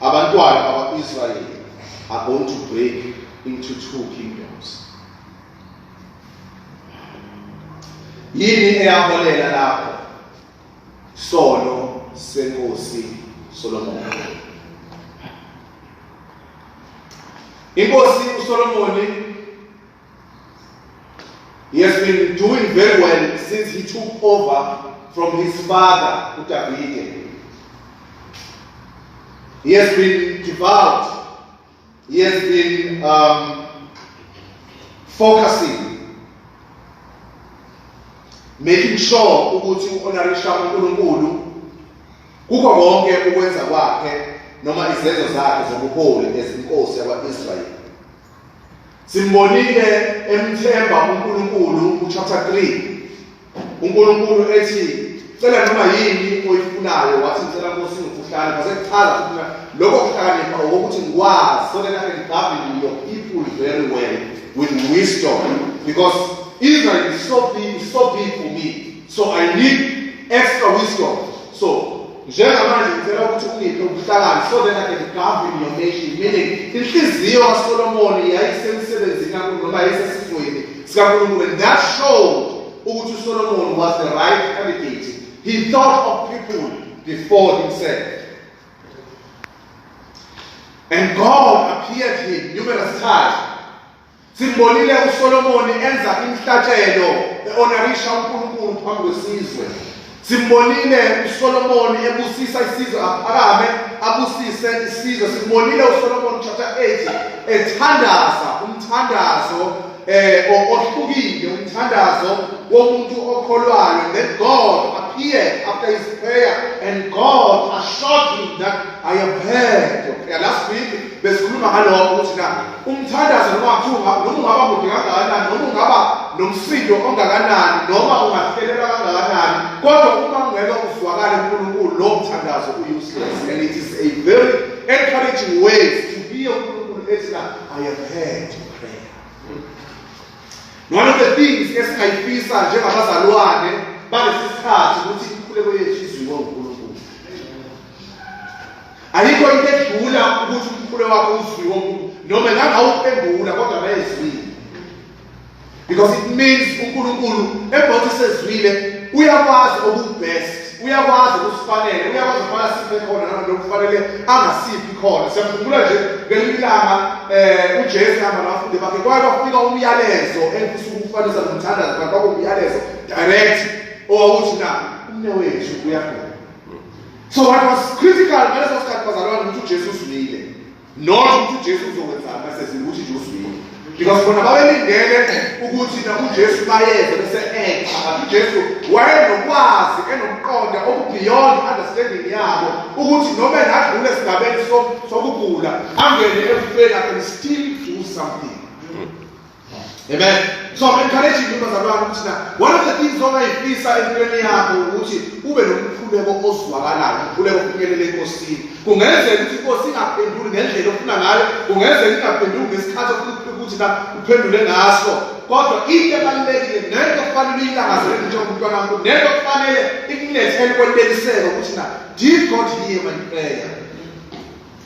Abantwana bakwa-Israyeli are going to break into two kingdoms. Yini eyaholela lapho? Sono senkosi Solomon. Inkosi uSolomoni He has been doing very well since he took over from his father, Utavide. He has been devout. He has been um, focusing, making sure ukuthi u-honorisha uNkulunkulu kukho konke ukwenza kwakhe noma izenzo zakhe zobuholi ezinkosi yakwa-Israyeli. Simbonile emthemba uNkulunkulu kuchapter 3. UNkulunkulu ethi cela noma yini oyifunayo wathi ngicela Nkosi ngikuhlale base kuchaza ukuthi lokho kuhlakanipha ukuthi ngikwazi so that I can govern your people very well with wisdom because Israel is so big, is so big for me. so i need extra wisdom so njengamanje ngicela ukuthi ungiphe ubuhlakani so then i can govern your nation meaning inhliziyo kasolomoni yayisemsebenzini kakhulu noma yayisesifweni sikankulunkulu and that showed ukuthi usolomoni was the right candidate he thought of people before himself and god appeared him numerous times Simbonile uSolomoni enza imhlatshelo eonarisha uNkulunkulu phambi kwesizwe. Simbonile uSolomoni ebusisa isizwe aphakame abusise isizwe. Simbonile uSolomoni chapter 8 ethandaza umthandazo eh ohlukile umthandazo womuntu okholwayo that God appeared after his prayer and God assured him that I have heard your prayer. Last week besikhuluma ngalokho ukuthi na Umthandazo noma kuthiwa ungaba noma ungaba mude kangakanani noma ungaba nomsindo ongakanani noma ungahlelelwa kangakanani kodwa uma ungeke uzwakale uNkulunkulu lo mthandazo u-useless and it is a very encouraging way to hear uNkulunkulu ethi na I have heard your prayer. One of the things esingayifisa njengabazalwane balesi sikhathi ukuthi inkuleko yethu izwiwe uNkulunkulu. Ayikho into edlula ukuthi umkhuleko wakho uzwiwe umuntu noma engangawuphendula kodwa bayezwile. Because it means uNkulunkulu ebhothi sezwile uyakwazi okubest uyakwazi ukusifanele uyakwazi ukufana siphe khona noma lokufanele angasiphi khona siyakhumbula nje ngelilanga eh uJesu hamba nabafundi bakhe kwaye kwafika umyalezo engifisa ukufanisa nomthandazo kanti kwakuwumyalezo direct owawuthi na umnewethu uyagula so what was critical ngaleso sikhathi bazalwane ukuthi ujesu uzwile not ukuthi ujesu uzokwenzani basese ukuthi nje uzwile because bona babelindele ukuthi nakujesu bayeze bese enxa but ujesu wayenokwazi enokuqonda okubeyond understanding yabo ukuthi noma engadlula esigabeni sokugula angene ekufeni akhe still do something Amen. So I'm encouraging you bazalwane ukuthi na one of the things ongayifisa empilweni yakho ukuthi ube nomkhuleko ozwakalayo, umkhuleko ofinyelele enkosini. Kungenzeka ukuthi inkosi ingaphenduli ngendlela ofuna ngayo, kungenzeka ingaphenduli ngesikhathi ofuna ukuthi na uphendule ngaso. Kodwa into ebalulekile nento kufanele uyilangazele njengoba umntwana wakho, nento kufanele ikunethele kweneliseke ukuthi na did God hear my prayer?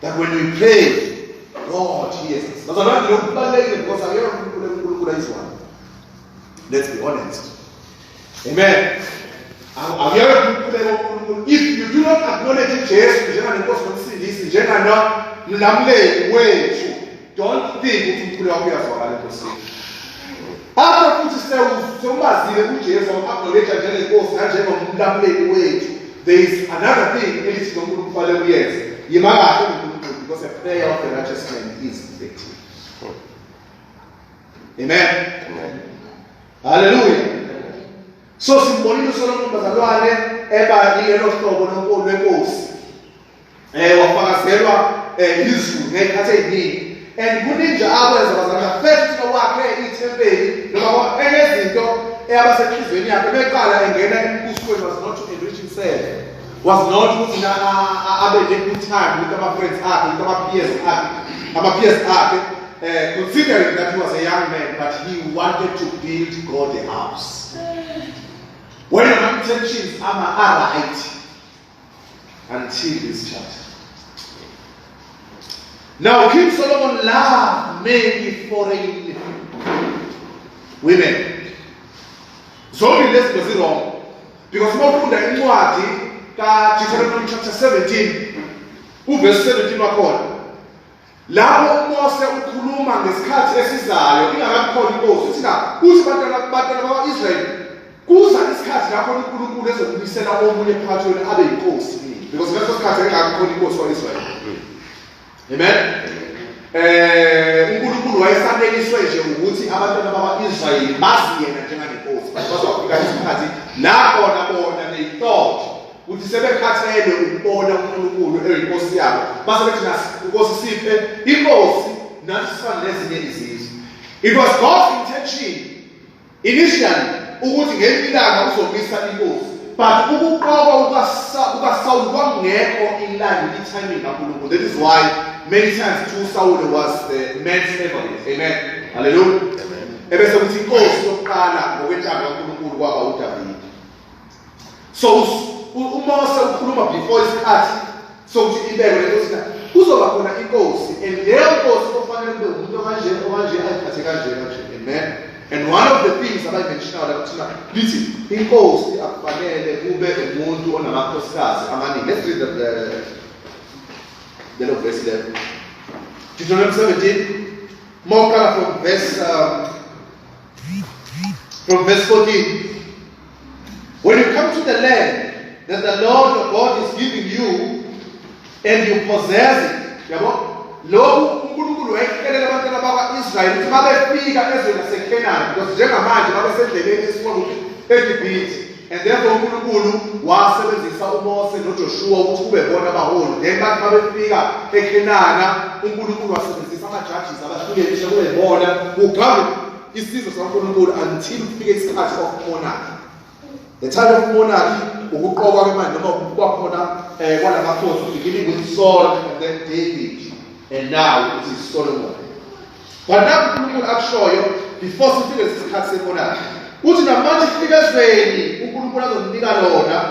That when we pray, God hears us. Bazalwane lokhu kubalulekile because akekho uNkulunkulu uNkulunkulu ayizwayo. Let's be honest. Amen. Akuyona uNkulunkulu woNkulunkulu. If you do not acknowledge Jesu njenganenkosi nomsindisi njengana mlamuleli wethu Don't think ukuthi umculo wakho uyazwakala enkosini. Bapha futhi sewumazile uJesu wamabholetha njengenkosi nanjengomlamuleli wethu. There is another thing elithi nomuntu kufanele uyenze. Yima kahle umuntu because a prayer of the righteous man is effective. Amen. Amen. Hallelujah. So simbonile uSolomon bazalwane eba yilo hlobo lonkulu lenkosi. Eh wafakazelwa eh izulu ngekhathi eziningi and kuningi akwenza bazana first wakhe ithempeli noma enezinto eyabasehlizweni yakhe beqala engena embusweni was not to enrich himself was not ukuthi abe nekuthanda ukuthi ama friends akhe ukuthi ama peers akhe ama peers akhe Uh, considering that he was a young man, but he wanted to build God a house. When your intentions are right, Until this chart. Now King Solomon loved many foreign women. Zombie lezi zinto zirong because uma ufunda incwadi kaDeuteronomy chapter 17 uverse 17 wakhona Lapho uMose ukhuluma ngesikhathi esizayo ingakakhona inkosi uthi na uthi bantwana bantwana bakwa-Israyeli kuza isikhathi lapho uNkulunkulu ezokubisela omunye phakathi wenu abe yinkosi because ngaleso sikhathi engakakhona inkosi kwa-Israyeli amen eh uNkulunkulu wayesaneliswe nje ukuthi abantwana bakwa-Israyeli bazi yena njenganenkosi bazofika isikhathi la khona bona beyintoto uthi sebekhathele ukubona uNkulunkulu eyinkosi yabo base bethi nasi inkosi siphe inkosi nathi sifane nezinye izizwe it was God's intention initially ukuthi ngelinye ilanga uzomisa inkosi but ukuqoka ukaSawulu kwangekho ilanga i-timing kaNkulunkulu that is why many times to Saul was the man's favorite amen hallelujah ebese kuthi inkosi yokuqala ngokwentando kaNkulunkulu kwaba uDavide so umose ukhuluma before isikhathi sokuthi ibekwe inkosi na kuzoba khona inkosi and leyo nkosi ofanele kube umuntu okanje okanje ayiphathe kanje kanje amen and one of the things abayimentionayo lapho thina lithi inkosi akufanele kube umuntu onamakhosikazi amaningi let's read the, the lelo verse lelo Deuteronomy 17 mawuqala from verse um, from verse 14 When you come to the land that the Lord your God is giving you and you possess it, yabo lokhu uNkulunkulu wayekhelela abantwana bakwa-Israyeli ukuthi babefika ezweni laseKhenani because njengamanje babesendleleni esifuna ukuthi eGibhithe and therefore uNkulunkulu wasebenzisa uMose noJoshuwa ukuthi kube bona abaholi then bathi babefika eKhenana uNkulunkulu wasebenzisa ama-judges abahlukenishe kube bona kugabe Isizwe saNkulunkulu until kufike isikhathi of monarchy. The time of monarchy ukuqokwa kwemali noma ukuba khona eh kwalamakhosi beginning with Saul and then David and now it is Solomon. But now uNkulunkulu akushoyo before sifike isikhathi semonarchy. Uthi namanje kufike ezweni uNkulunkulu azonika lona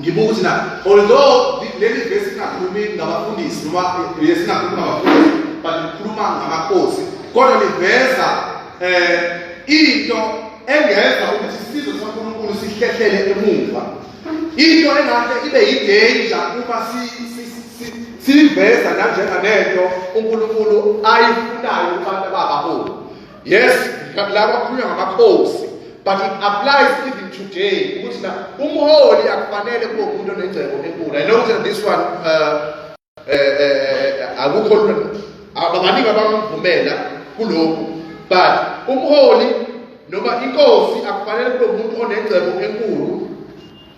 Ngibuka ukuthi na although leli vesi ingakhulumi ngabafundisi noma yes ingakhulumi ngabafundisi but ikhuluma ngamakhosi kodwa liveza eh into engenza ukuthi isizwe saNkulunkulu sihlehlele emuva into engahle ibe yidanger uma si siveza nanjenganento uNkulunkulu ayifunayo kubantu ababaholi yes la kwakhulunywa ngamakhosi but it applies even today ukuthi na umholi akufanele kube umuntu onengcebo enkulu i know that this one uh, uh, uh, akukho lula abaningi abamvumela kulokhu but umholi noma inkosi akufanele kube umuntu onengcebo enkulu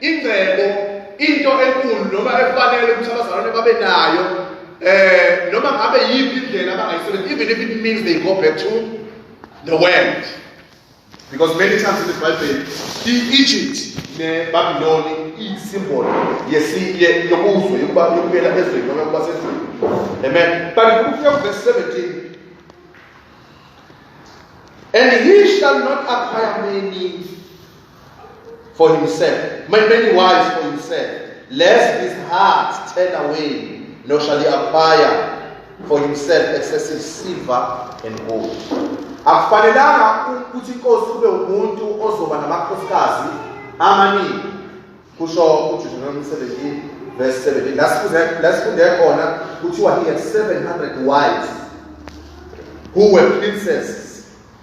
ingcebo into enkulu noma efanele ukuthi abazalwane babe nayo eh noma ngabe yiphi indlela abangayisebenzisa even if it means they go back to the world because many times in the bible i-egypt nebabyloni iyisimbolo yokuzwe yokuba yokubuyela ezweni noma yokuba sezweni amen but ukufika kuvesi 17 and he shall not acquire many for himself. Many, many wives for himself. Lest his heart turn away, nor shall he acquire for himself excessive silver and gold. akufanelanga ukuthi inkosi kube umuntu ozoba namakhosikazi amaningi kusho uDeuteronomy 17 verse 17 lasifunde khona kuthiwa he had 700 wives who were princesses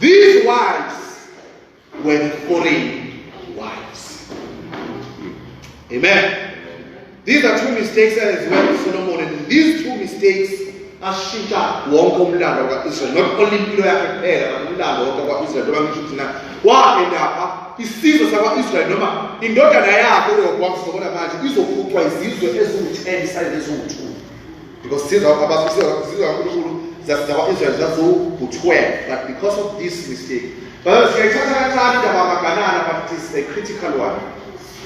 These wives were the foreign wives. Amen. These are two mistakes that as well Solomon and these two mistakes ashintsha wonke umlando ka-israyeli not only impilo yakhe kuphela but umlando wonke kwa-israyeli noma ngisho ukuthi na waendapha isizwe sakwa-israyeli noma indodana yakhe urehobowamu sizobona manje izofuqwa izizwe eziwu-ten sayineziwu-two Because these are about these are these are people that are Israel that who who twelve, but because of this mistake. But siyayithatha kancane indaba yamaganana but it is a critical one.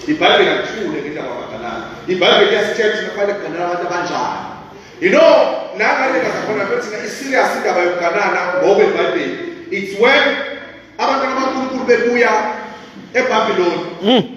IBhayibheli alithule ngendaba yamaganana. IBhayibheli iyasitshela ukuthi kufanele kuganana abantu abanjani. You know, nangale kazakhona bethi i-serious indaba yokuganana ngoba iBhayibheli. It's when abantwana bakaNkulunkulu bebuya eBabiloni. Mm.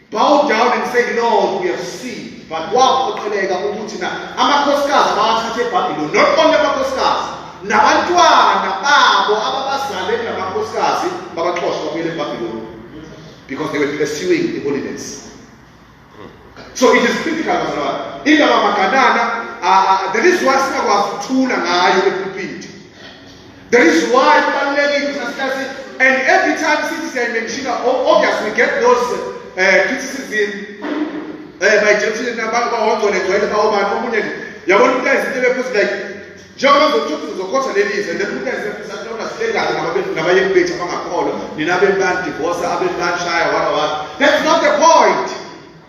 Bow down and say, Lord, we have seen. But waphoqeleka ukuthi na amakhosikazi bawathathe eBhabhiloni. Not only amakhosikazi, nabantwana babo ababazale namakhosikazi babaxosha babuyele eBhabhiloni because they were pursuing the holiness. So it is critical bazalwane. Indaba maganana, uh, uh, there is one singakwazi ukuthula ngayo epulpiti. That is why kubalulekile ukuthi nasikhathi and every time sithi siyayimenshina obviously we get those uh, criticism eh by Jameson nabangongcole gcwele bawobani omunye nje yabona ukuthi izinto ebephuthi like njengoba zokuthi uzokhotha leli izwe then umuntu ayisebenzisa kutona silengane nabaye bethu abangakholwa nina abemani divorce abemani shaya wala wala that's not the point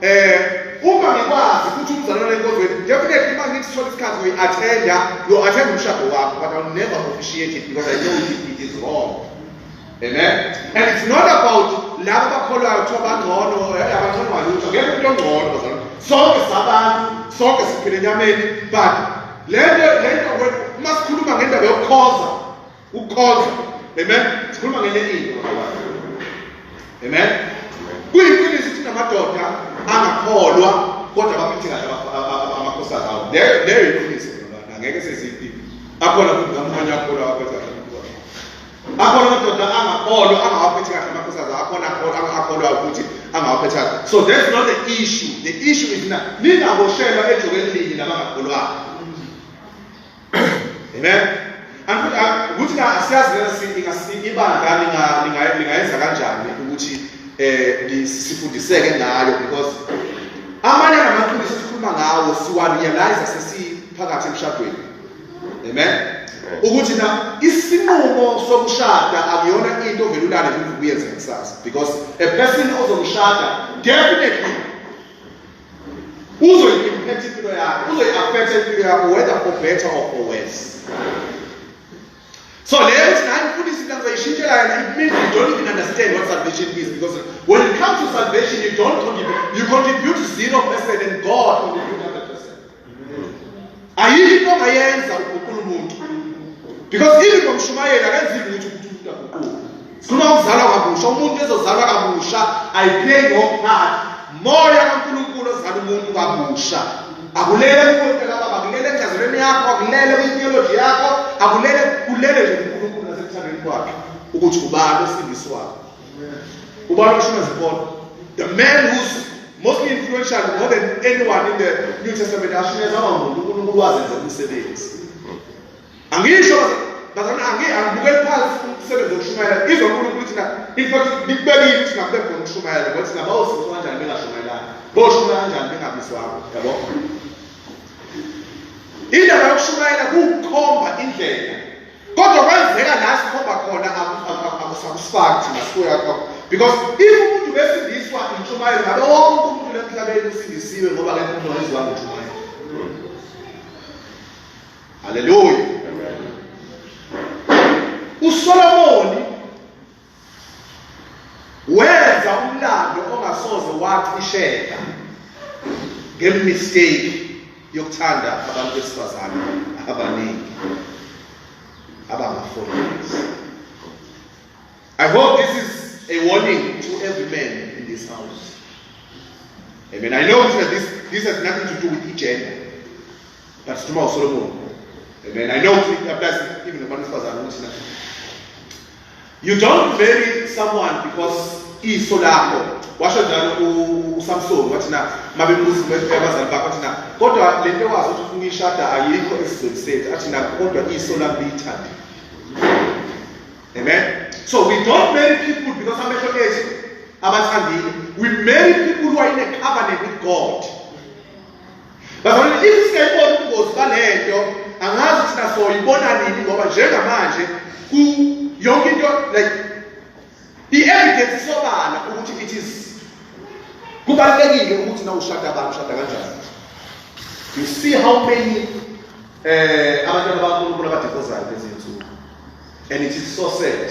Eh uma ngikwazi ukuthi umzalwane enkonzweni definitely uma ngithi sithola isikhathi we attenda lo attend umshado wakho but I'll never officiate it because I know it, it is wrong. Amen. And it's not about laba bakholwayo kuthiwa bangcono eh, abangcono walutho ngeke umuntu ongcono bazalwane. Sonke sabantu, sonke siphila enyameni but lento lento uma sikhuluma ngendaba yokukhoza ukukhoza amen sikhuluma ngenye into amen kuyiqiniso ukuthi namadoda angakholwa kodwa baphethe kahle amakhosana awo leyo yiqiniso ngeke seziphi akhona futhi amanye akholwa baphethe kahle akhona amadoda angakholwa angawaphethe kahle amakhosana akhona akholwa ukuthi angawaphethe kahle so that's not the issue the issue is na ningaboshelwa ejokeni linye nabangakholwayo Amen. Angithi ah, ukuthi ka siyazi lesi ibandla linga lingayenza kanjani ukuthi eh sifundiseke ngayo because amanye amaqiniso sikhuluma ngawo siwa realize sesiphakathi emshadweni. Amen. ukuthi na isinqumo sokushada akuyona into ovele ulale kuvukuyenze kusasa because a person ozomshada definitely uzoyiimphetha impilo yakho uzoyi-afetha impilo yakho whether for better or for worse so leyo ukuthi naye mfundisi into ngizoyishintshela yona it means you don't even understand what salvation is because when it comes to salvation you don't contribute you contribute zero percent and god contribute ayikho into ongayenza uguqula umuntu because even ngomshumayeli akenzi lutho ukuthi umuntu aguquke sikhuluma ukuzalwa kabusha umuntu ezozalwa kabusha ayiplay wrong part moya kankulunkulu ozala umuntu kabusha akulele kuwonke kababa akulele encazelweni yakho akulele kwitheology yakho akulele kulele nje unkulunkulu nasekuthandweni kwakhe ukuthi ubani osindiswayo ubani oshona zibona the man who's mostly influential more than anyone in the new testament ashuneza amamuntu unkulunkulu wazenza umsebenzi angisho bazana angibukeli phansi umsebenzi wokushumayela izwa unkulunkulu thina in fact nikubekile ukuthi ngakube khona ukushumayela ngoba thina bawusizwa kanjani bengashumayelanga boshumayela kanjani bengabizwanga yabo indaba yokushumayela kukhomba indlela kodwa kwenzeka la sikhomba khona akusatisfacti ngasuya khona because if umuntu besindiswa intshumayelo ngabe wonke umuntu lemhlabeni usindisiwe ngoba ke umuntu wayezwa ngentshumayelo haleluya usolomoni Wenza umlando ongasoze waqisheka ngemistake yokuthanda abantu besifazane abaningi abangafundisi. I hope this is a warning to every man in this house. Amen. I know that this, this has nothing to do with gender. But tomorrow Solomon. Amen. I know it applies even to the man who You don't marry someone because iso lakho washo njalo uSamson wathi na mabebuza ukuthi abazali bakho wathi na kodwa lento wazi ukuthi ufuna ishada ayikho esizweni sethu athi na kodwa iso lami liyithanda amen so we don't marry people because amehlo ethu abathandile we marry people who are in a covenant with God Bazalwane, if singayibona ubungozi balento, angazi ukuthi nasoyibona nini ngoba njengamanje ku yonke into like i-evidence isobala ukuthi it is kubalulekile ukuthi na ushada abantu ushada kanjani you see how many eh abantwana bakaNkulunkulu abadivozayo lezi nsuku and it is so sad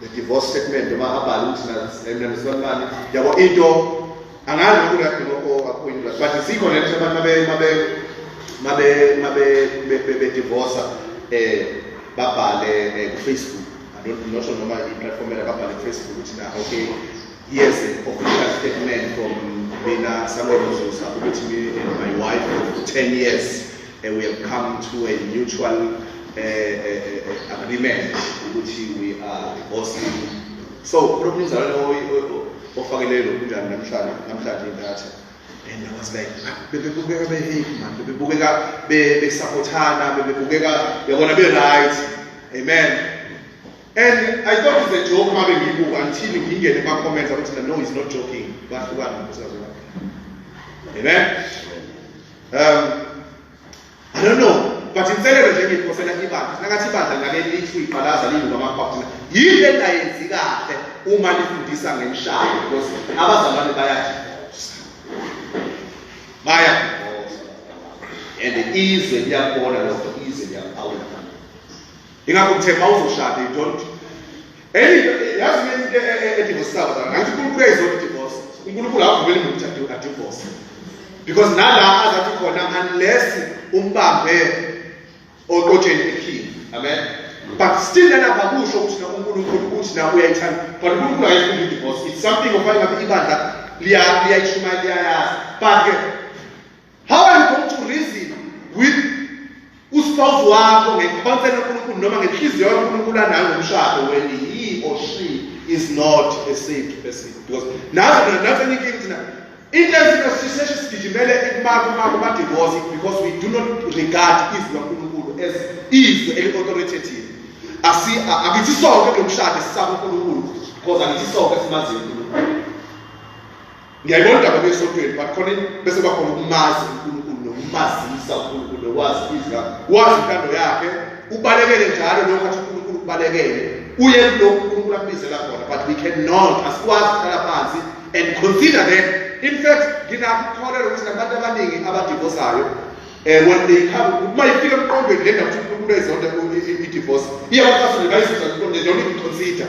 the divorce statement noma abhale ukuthi nandisilwa imali yabo into angazi ukuthi uyadinga akuyindla but sikho le nto abantu bedivorsa um babhale eh, kufacebook andnosho noma iplatform ela babhale kufacebook ukuthi na okay yes official statement from mina samuel mzusa ukuthi me and my wife of 10 years We have come to a mutual uh, uh, agreement ukuthi we are divorcing. So kulo mnumzane ofakele lo kunjani namhlanje namhlanje intatha and I was like bebebukeka beheyi manje bebebukeka besapothana bebebukeka yabona be-right amen and I thought it's a joke mabe ngiyibuka until ngingene kuma-comments abathina no he's not joking bahlukana amen Um, I don't know, but inselelo nje engiyiphosela ibandla sinakathi ibandla ngake lisho iqalaza liyuka amaphaphuthina yini le ndayenzi kahle uma lifundisa ngemishado because abazalwane bayadivosa bayadivosa and izwe liyakubona lokho izwe liyakubawula ingakho ngithe ma uzoshada you don't Enye into yazi ke into e- e- edivorcisayo la ngathi uNkulunkulu uyayizona idivorce. uNkulunkulu akavumeli muntu ukuthi adi- adivorce. Because nala azathi khona unless umbambe oqotsheni ephini. Amen. But still lana bakusho ukuthi na uNkulunkulu uthi na uyayithanda. But uNkulunkulu akayifuni idivorce. It's something of ayingabe ibandla liya liyayishuma liyayazi. But ke How are you going to reason with uspouse wakho ngekhonsela uNkulunkulu noma ngenhliziyo kaNkulunkulu anayo ngomshado when he or she is not a saved person because nazo nazo eningi thina into ezina siseshe sigijimele ekumaka umaka ba divorce because we do not regard izwi kaNkulunkulu as izwi eli authoritative asi akithi sonke lomshado sisaba uNkulunkulu because angithi sonke simaziyo uNkulunkulu Ngiyayibona indaba besontweni but khona bese kwakhona ukumazi uNkulunkulu nokumazisa uNkulunkulu nokwazi izwa wazi intando yakhe ubalekele njalo lokho athi uNkulunkulu kubalekele uye kulokhu uNkulunkulu akubizela khona but we cannot asikwazi ukuhlala phansi and consider that in fact nginakukholelwa ukuthi nabantu abaningi abadivosayo eh when they come uma ifika emqondweni lena ukuthi uNkulunkulu ezonda i-divorce iyabafasile bayizizwa nje don't even consider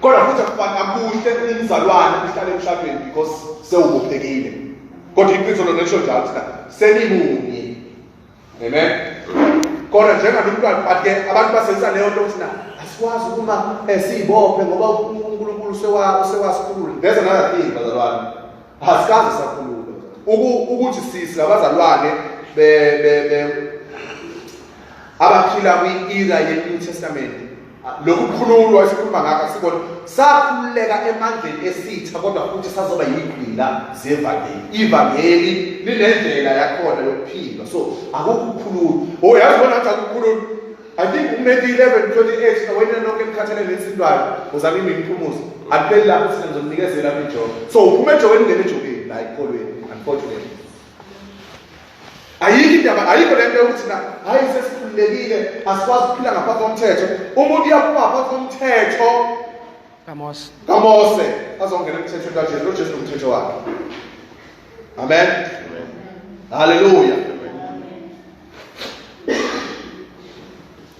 kodwa futhi akufani akuhle umzalwane uhlale emhlabeni because sewubophekile kodwa iqiniso lona lisho njalo ukuthi senimunye amen kodwa njengabe umntwana but ke abantu basebenzisa leyo nto ukuthi na asikwazi ukuma eh, siyibophe ngoba unkulunkulu usewasikhulule there's another thing bazalwane asikaze sakhulule ukuthi sisi labazalwane abaphila kwi-era ye-new testament Lokhu kukhululwa esikhuluma ngakho asikona sakhululeka emandleni esitha kodwa futhi sazoba yigqila zevangeli. Ivangeli linendlela yakhona yokuphila. So akukukhulula. Oh yazi bona athi akukhulula. I think uMethi 11:28 nawena nonke emkhathele nesintwayo uzama imiphumuzo. Akupheli lapho sina ngizomnikezela amejoke. So uphuma ejokeni ngene ejokeni la ikolweni unfortunately. ayikho indaba ayikho lento yokuthi na hayi sesikhululekile asikwazi ukuphila ngaphansi komthetho umuntu uyaphuma ngaphansi komthetho kaMose kaMose azongena emthethweni kaJesu loJesu nomthetho wakhe amen haleluya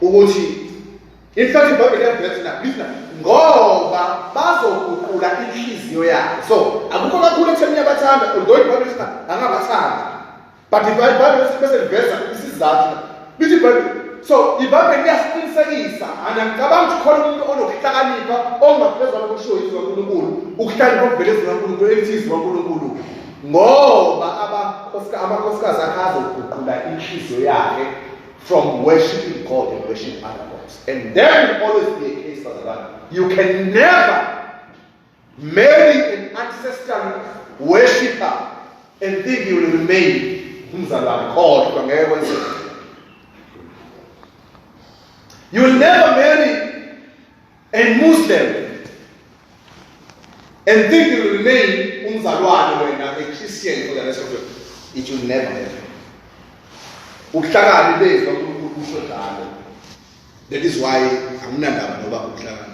ukuthi in fact ibhayibheli yabhekisa nabhisa ngoba bazoguqula inhliziyo yabo so akukho kakhulu ekutheni uyabathanda although ibhayibheli sithi angabathanda but ibhayibheli bese liveza isizathu bithi ibhayibheli so ibhayibheli liyasiqinisekisa anangicabangi ukuthi khona umuntu onokuhlakanipha ongaphezulu kokushiwo yizwi kankulunkulu ukuhlakanipha okuvele ezwi kankulunkulu elithi izwi kankulunkulu ngoba abakhosika amakhosikazi akhe azoguqula inhliziyo yakhe from worshiping God and worship other gods and then always be a case bazalwane you can never marry an ancestor worshipper and think you will remain umzalwane kodwa ngeke kwenzeke you will never marry and Muslim and think you will remain umzalwane wena a Christian for the rest of your life. It will never happen. Ukuhlakani bezwi kaNkulunkulu kusho njalo. That is why anginandaba noba ukuhlakani.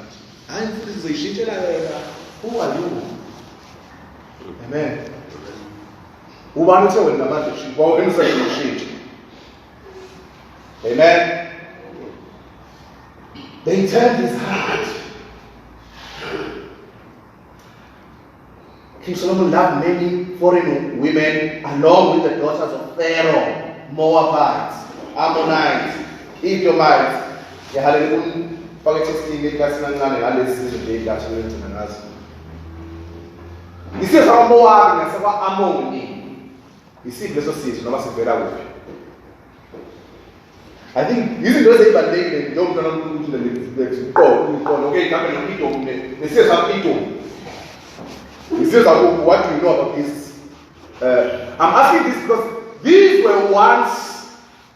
Hayi mfundisi ngizoyishintshela yena. Who are you? Amen. Ubani uthe wena manje shintsha, wawena usayishintshela. Amen. They turned his heart. King Solomon loved many foreign women along with the daughters of Pharaoh, Moabites, Ammonites, Edomites. Yahalele kumfaka ethestini likaSinancane ngalezi zizwe nje idatha lengcina ngazo. Isizwe sakwaMowabi nasekwa-Amoni Yisiphi leso sizi noma sivela kuphi? I think izinto ezibalulekile nje njengoba mntwana uNkulunkulu lesiqoqo uqondo okay kambe nokito kumbe nesize sakito nisize sakuphi what do you know about this uh, I'm asking this because these were once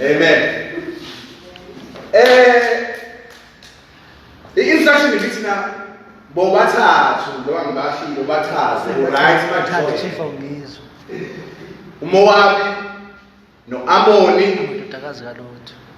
Amen. Eh i-instruction ibithi na bobathathu njengoba ngibashilo bathathu right manje chief awungizwa uMowabi noAmoni indodakazi kaLothi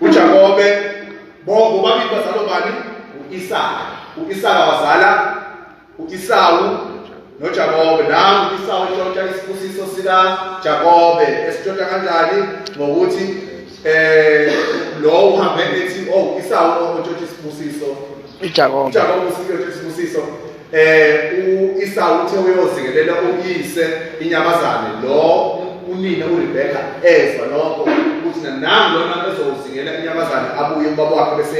uJakobe bonke bobabili bazalwa bani u-Isaka u-Isaka wazala u-Isawu noJakobe nangu u-Isawu eshontsha isibusiso sikaJakobe esishontsha kanjani ngokuthi eh lo uhambe ethi oh Isawu oshontsha isibusiso ijakobo ijakobo usizo isibusiso eh uIsau uthe uyozingelela uyise inyamazane lo unina uRebecca ezwa lokho ukuthi nanami lona ezozingela inyamazane abuye ubaba wakhe bese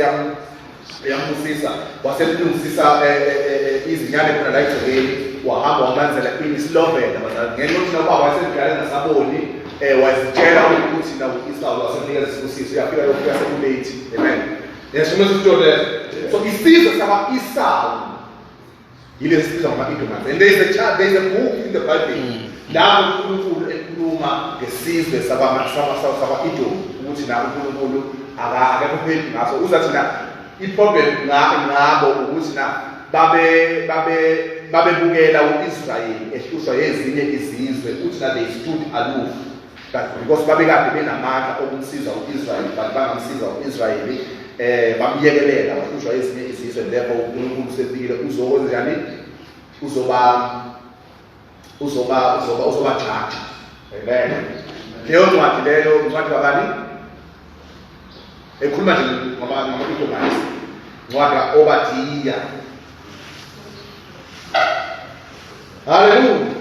yambusisa wasemlungisisa eh, eh, eh, izinyane khona la egcekeni wahamba wamlanzela inislovela bazali ngenxa yokuthi nobaba wayesemdala engasaboni um wazitshela ukuthi nakuIsau wasemnikeza isibusiso uyafika lokhu yasekulate amen Yasona sitole. So isizwe sama Esau. Yile sibizwa ngama Edomites. And there is a chart, there is a book in the Bible. Mm. Lapho uNkulunkulu ekhuluma ngesizwe sama sama sama Edom ukuthi na uNkulunkulu akakho phezulu ngaso. Uza thina iproblem ngabo ngabo ukuthi na babe babe babebukela uIsrayeli ehlushwa yezinye izizwe uthi na they stood aloof kanti because babekade benamandla okumsiza u-israyeli kanti bangamsiza u-israyeli um bamyekelela wahlushwa ezinye izizwe lepo unkulunkulu usefikile uzokwenzani uzoba uzoba uzoba uzoba jaji amen leyo ncwadi leyo ncwadi kabani ekhuluma nje ngamaitomanisi ncwadi ka-obadiya haleluya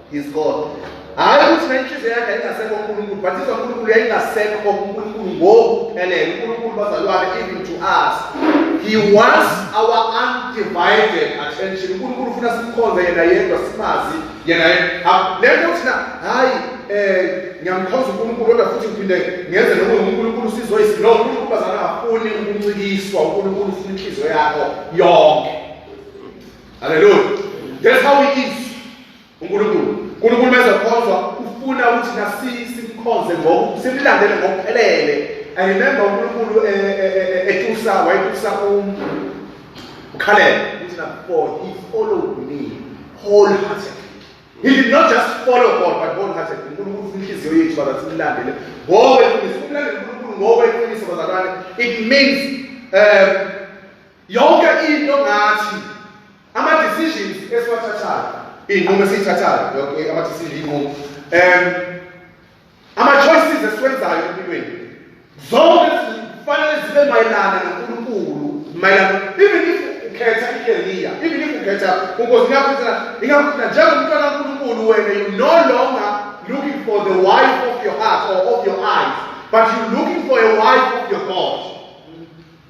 He's God. Hayi ukuthi nenhliziyo yakhe ayingasekho uNkulunkulu, but izwa uNkulunkulu yayingasekho uNkulunkulu ngokuphelele. uNkulunkulu bazalwane even to us. He wants our undivided attention. uNkulunkulu ufuna simkhonze yena yedwa simazi yena yedwa. Lento thina hayi eh ngiyamkhonza uNkulunkulu kodwa futhi ngiphinde ngenze noma uNkulunkulu sizoyisi. No, uNkulunkulu bazalwane afuni ukuncikiswa. uNkulunkulu ufuna inhliziyo yakho yonke. Hallelujah. That's how it is. uNkulunkulu uNkulunkulu mezokhonzwa ufuna ukuthi nasisimkhonze ngoku simlandele ngokuphelele i remember uNkulunkulu eh, eh, eh, etusa wayetusa um ukhalele ukuthi na for he followed me wholeheartedly he did not just follow God but wholeheartedly uNkulunkulu ufuna inhliziyo yethu baza simlandele ngowe ufuna ukumlandela uNkulunkulu ngowe ufuna bazalwane it means um Yonke into ngathi ama decisions esiwathathayo, izinqumo esizithathayo, yonke ama decisions izinqumo. Um ama choices esiwenzayo empilweni. Zonke kufanele zibe mayelana noNkulunkulu, mayelana even if ukhetha icareer, even if ukhetha uNkosi yakho ingakuthatha njengomntwana kaNkulunkulu wena you no longer looking for the wife of your heart or of your eyes, but you're looking for a wife of your God.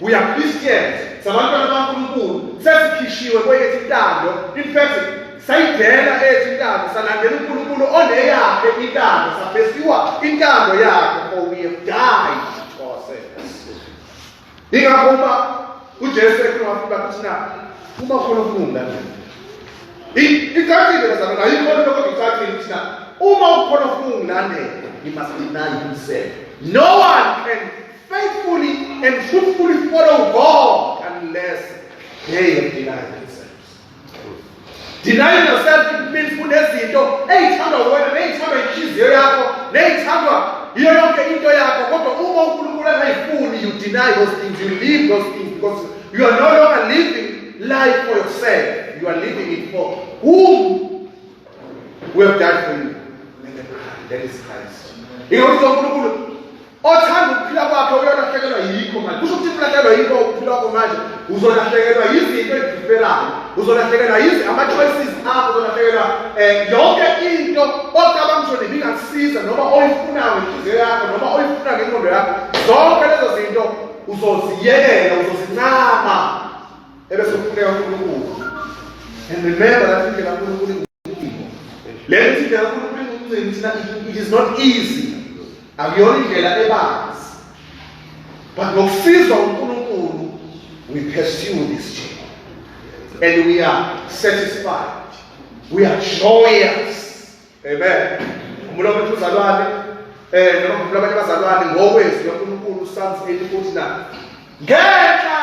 We are Christians, sabantwana baNkulunkulu, sesikhishiwe kweyethu intando. In fact, sayidela eyethu intando, salandela uNkulunkulu oneyakhe intando, saphesiwa intando yakhe for we have died to ourselves. Ingakho uma uJesu ekhuluma wafuba ukuthi na uma khona ukulunga nje. Icacile lezalo nayo ikhona lokho ngicacile ukuthi na uma ukhona ukulunga nje, you must deny yourself. No one can Faithfully and fruitfully follow God unless they have denied themselves. Denying yourself it means kunezinto eyithandwa wena neyithandwa inhliziyo yakho neyithandwa yiyo yonke into yakho kodwa uma uNkulunkulu angayifuni you deny those things you leave those things because you are no longer living life for yourself you are living it for whom we have died for you and the Christ that is Christ. He also othanda ukuphila kwakhe uyolahlekelwa yikho manje kusho ukuthi ulahlekelwa yikho ukuphila kwakho manje uzolahlekelwa yizinto eziphelayo uzolahlekelwa yizi ama-choices akho uzolahlekelwa um yonke into ocabanga ukuthi nini ingakusiza noma oyifunayo ngenhliziyo yakho noma oyifuna ngenqondo yakho zonke lezo zinto uzoziyekela uzozincama ebese ufuneka unkulunkulu and remember that indlela unkulunkulu le mithi indlela yokuphila umcimbi thina it is not easy akuyona indlela ebanzi but ngokufizwa unkulunkulu we pursue this journey and we are satisfied we are joyous amen umuntu omuntu uzalwane eh noma umuntu abanye bazalwane ngokwezwi lonkulunkulu usamsile ukuthi na ngenxa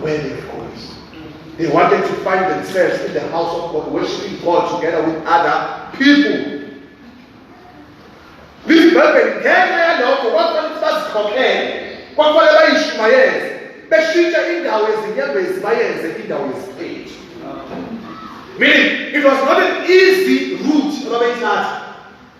where they go. They wanted to find themselves in the house of God, worshiping God together with other people. Lizibhebheni ngenxa yalokho kwakufanele ukuthi bazikhokhele kwakufanele bayishumayeze beshintshe indawo yezinyembezi bayenze indawo yesiqethi meaning it was not an easy route ababeyithatha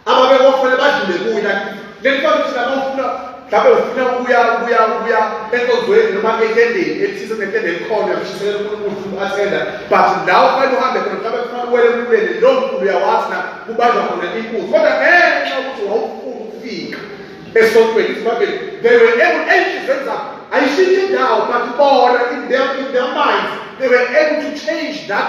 ababekofele badlule kuye like leli bantu thina bafuna mhlawumbe ufuna ukuya ukuya ukuya enkonzweni noma etendeni elithize kunetende elikhona uyamshisekela unkulunkulu ufuna uku-athenda but la ufanele uhambe khona mhlawumbe kufanele uwele emluleni lo mkhulu uyawazi na kubanjwa khona inkunzi kodwa ngenxa yokuthi wawufuna ukufika esontweni isibabeli they were able enhlizweni zabo ayishintshe indawo but bona in their, in their minds they were able to change that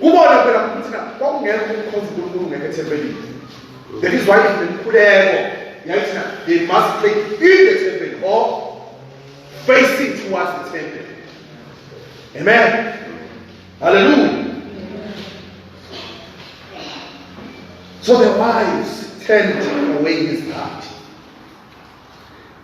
Kubona phela ukuthi na kwakungekho ukukhonza uNkulunkulu ngeke ethempelini. That is why imikhuleko yayithi na they must pray in the temple or facing towards the temple. Amen. Hallelujah. So the wise turned away his heart.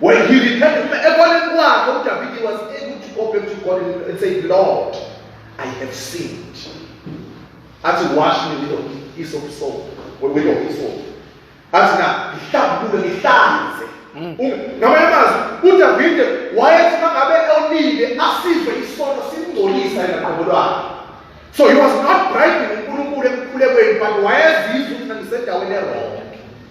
When he repented, ekoneni kwakhe uDavide was able to go back to God and say, Lord, I have sinned. Athi wash me with your hyssop soap, with your hyssop. Athi na, ngihlambulule, ngihlanze. Mm. Ngamanye amazwi, uDavide wayethi mangabe onile asizwe isono simngcolisa yena qobo lwakhe. So he was not bribing uNkulunkulu ekukhulekweni but wayezizwa ukuthi ngisendaweni erong.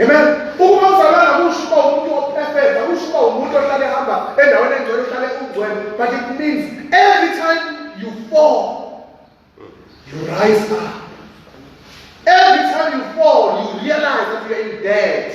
Amen. Uma uzalwana kusho uba umuntu ophefeza, kusho uba umuntu ohlale ehamba endaweni engcwele uhlale ungcwele. But it means every time you fall, you rise up. Every time you fall, you realize that you are in debt.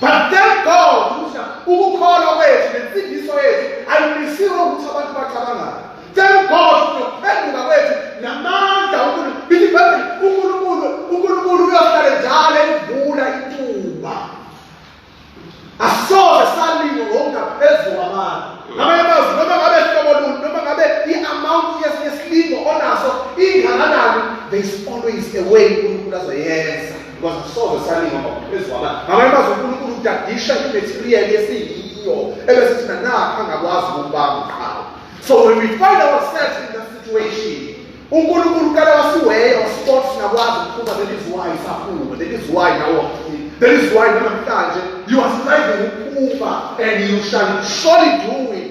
but thank god ukuthi ukukholwa kwethu nensindiso yethu ayimisiwe ukuthi abantu bacabangayo thank god nokuphenduka kwethu namandla unkulunkulu unkulunkulu unkulunkulu uyohlale njalo evula ithuba asoze salingo ngokungaphezu kwabantu ngamanye amazwi noma ngabe hlobo luni noma ngabe i-amount yesilingo onaso ingakanani there is always a way unkulunkulu azoyenza Ngoba sobe salinga ngaphezu kwaba. Ngabanye bazo uNkulunkulu udadisha imaterial yesiyiyo ebese thina nakha ngakwazi ukubamba qhawe. So when we find ourselves in that situation, uNkulunkulu kala wasiweya wasixoxa singakwazi ukuphuma that is why saphuma that is why now that is why namhlanje you are striving ukuphuma and you shall surely do it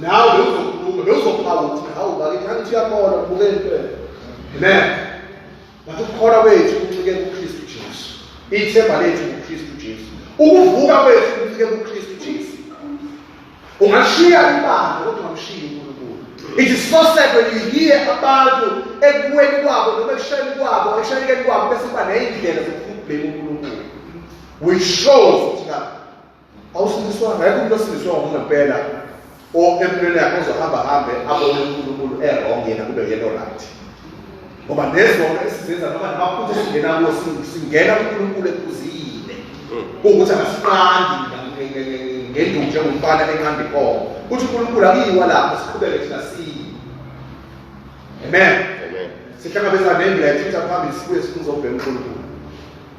nawe bewuzokhuluma bewuzokhala ukuthi hawu bakithi angithi uyakholwa kubuke impela amen ngathi ukukholwa kwethu kuncike kukristu jesu ithemba lethu kukristu jesu ukuvuka kwethu kuncike kukristu jesu ungashiya ibandla kodwa ungamshiyi unkulunkulu it is so sad when you hear abantu ekuweni kwabo noma ekushayeni kwabo ekushayekeni kwabo bese kuba neyindlela zokufuna ukubheka unkulunkulu which shows ukuthi awusindiswanga yikho umuntu osindiswe ngokungempela or empilweni yakhe ozohamba hambe abone unkulunkulu erong yena kube yena oright ngoba nezonto esizenza noma namaphutha esingena kuwo singena kunkulunkulu ephuzile kuwukuthi akasiqandi ngenduku njengomfana enqanda inkomo kuthi unkulunkulu akuyiwa lapho siqhubeke thina siyi amen sihlangabezana nembila ethitha phambili sibuye sifuna uzobheka unkulunkulu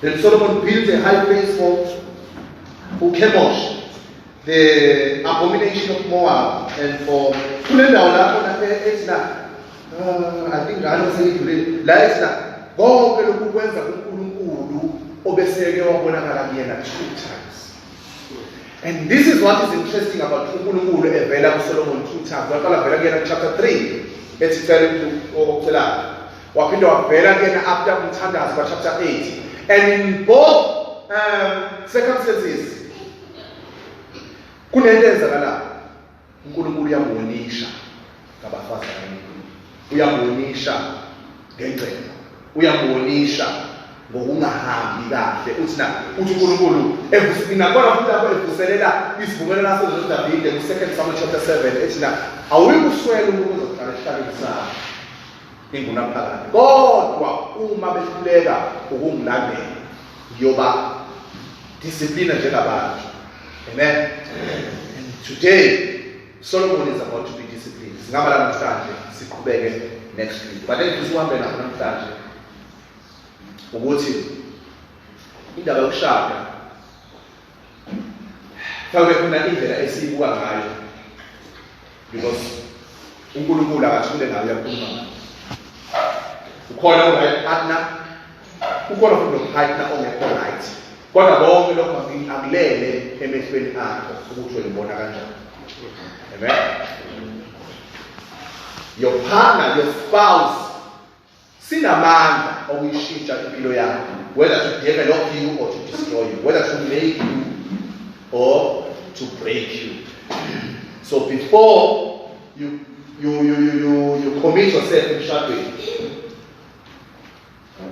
Then Solomon built a high place for uKhemosh, the abomination of Moab, and for kule ndawo lapho lapho ethi la ah, I think ngalo seyidlulile la ethi la konke lokhu kwenza kuNkulunkulu obeseke wabonakala kuyena two times. And this is what is interesting about uNkulunkulu evela kuSolomon two times. Waqala vela kuyena chapter 3 ethi cela ucela Waphinde wabheka kuyena after umthandazo kwa chapter 8 and in both um, circumstances kunento eyenzakalayo uNkulunkulu uyamuwonisha ngabafazi abaningi uyamuwonisha ngengcebo uyamuwonisha ngokungahambi kahle uthi na uthi uNkulunkulu evusimina kona futhi lapho evuselela isivumelwano laso noDavide ku-2 Samuel chapter 7 ethi na awuyikuswela uNkulunkulu ozokuhlala esihlabeni sakho ingunaphakade kodwa uma behluleka ukungilandela ngiyoba discipline njengabantu amen and today solomon is about to be disciplined singaba la namhlanje siqhubeke next week but engifisa uhambe nakho namhlanje ukuthi indaba yokushada Mhlawumbe khona indlela esiyibuka ngayo because uNkulunkulu akathule ngayo uyakhuluma ngayo. Ukhona ongayet partner ukhona futhi nopartner ongekho right. Kodwa konke lokho akulele emehlweni akho ukuthi uyibona kanjani. Amen. Your partner, your spouse Sinamandla okuyishintsha impilo yakho, whether to develop you or to destroy you, whether to make you or to break you. So before you you you you you, you commit yourself emshadweni,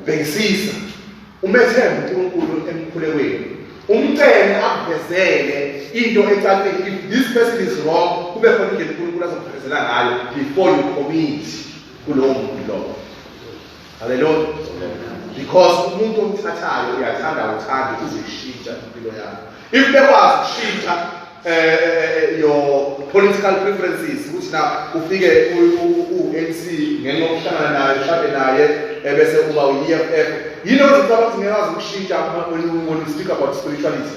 bhekisisa umethembe uNkulunkulu emkhulekweni umcele akuvezele into ecacile if this person is wrong kube khona indlela uNkulunkulu azokuvezela ngayo before you commit kulowo muntu lowo haleluya because umuntu omthathayo uyathanda uthanda uzishintsha impilo yakho if bekwazi ukushintsha eh, eh, eh, eh your political preferences ukuthi na ufike u-ANC ngenxa yokuhlangana naye uhlale naye ebese uba u-EFF yini ozicabanga ukuthi ngeke azi ukushintsha when you speak about spirituality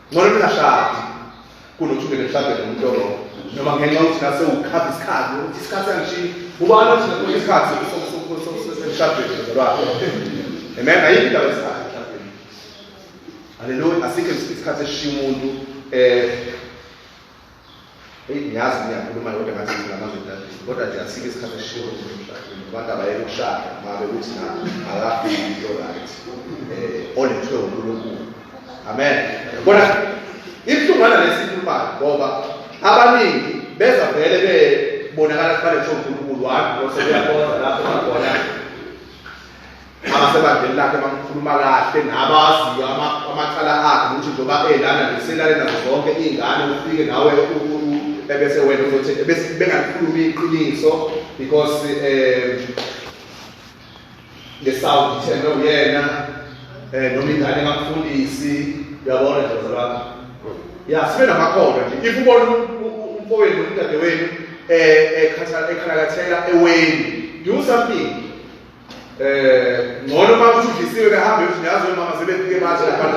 ngcono ningashadi kunokuthi ungene mhlawumbe nomuntu oro noma ngenxa yokuthi nase ukhava isikhathi ukuthi isikhathi angishiyi ubani othi nakhona isikhathi emshadweni zalwakhe amen ayikho indaba yesikhathi emshadweni haleluya asikho isikhathi esishiya umuntu um Eyi ngiyazi ngiyakhuluma kodwa ngathi nginamazwi dadini kodwa nje asike isikhathi esishiwo emshadweni abantu abayeke ukushada uma bekuthi na akafiki into right um olethwe unkulunkulu amen yabona ibuhlungwana lesi ikhulumayo ngoba abaningi beza vele bebonakala kufanele kusho unkulunkulu wami osebeyakhonza lapho bakhona abasebandleni lakhe bamkhuluma kahle nabaziyo amacala akhe ukuthi njengoba elana nje selale nazo zonke iy'ngane ufike nawe ebese wena uzothi bengakhulumi iqiniso because um ngesawundi ithembe uyena um noma ingane engakufundisi uyabona nje zalwakho ya sibe namakhono nje if ubona umfowenu umdadewenu um ekhalakathela eweni do something Eh ngcono uma uthudlisiwe behambe usinyazo mama sebefike manje lapha.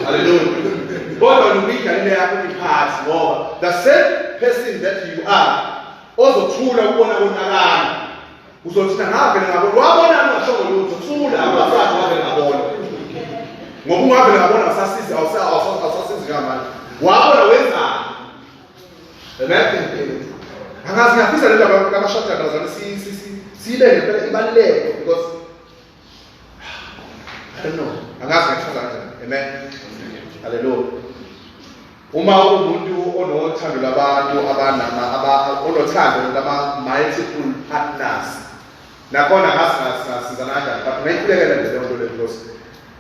Hallelujah. Kodwa nomida le yakho iphathi ngoba the same person that you are ozothula ukubona konakala. Uzothi ngavele ngabona wabona ngashongo lutho thula abafazi wavele ngabona. Ngoba ungavele ngabona usasizi awusasizi ngamanje. Wabona wenzani? Amen. Angazi ngafisa le ndaba kabashada ngazana si si si sibe ngempela ibaluleke because I don't know. Angazi ngachaza kanjani. Amen. Hallelujah. Uma umuntu onothando labantu abanama aba onothando lama multiple partners nakhona ngasizana kanjani but ngayikhulekela nje leyo nto leyo because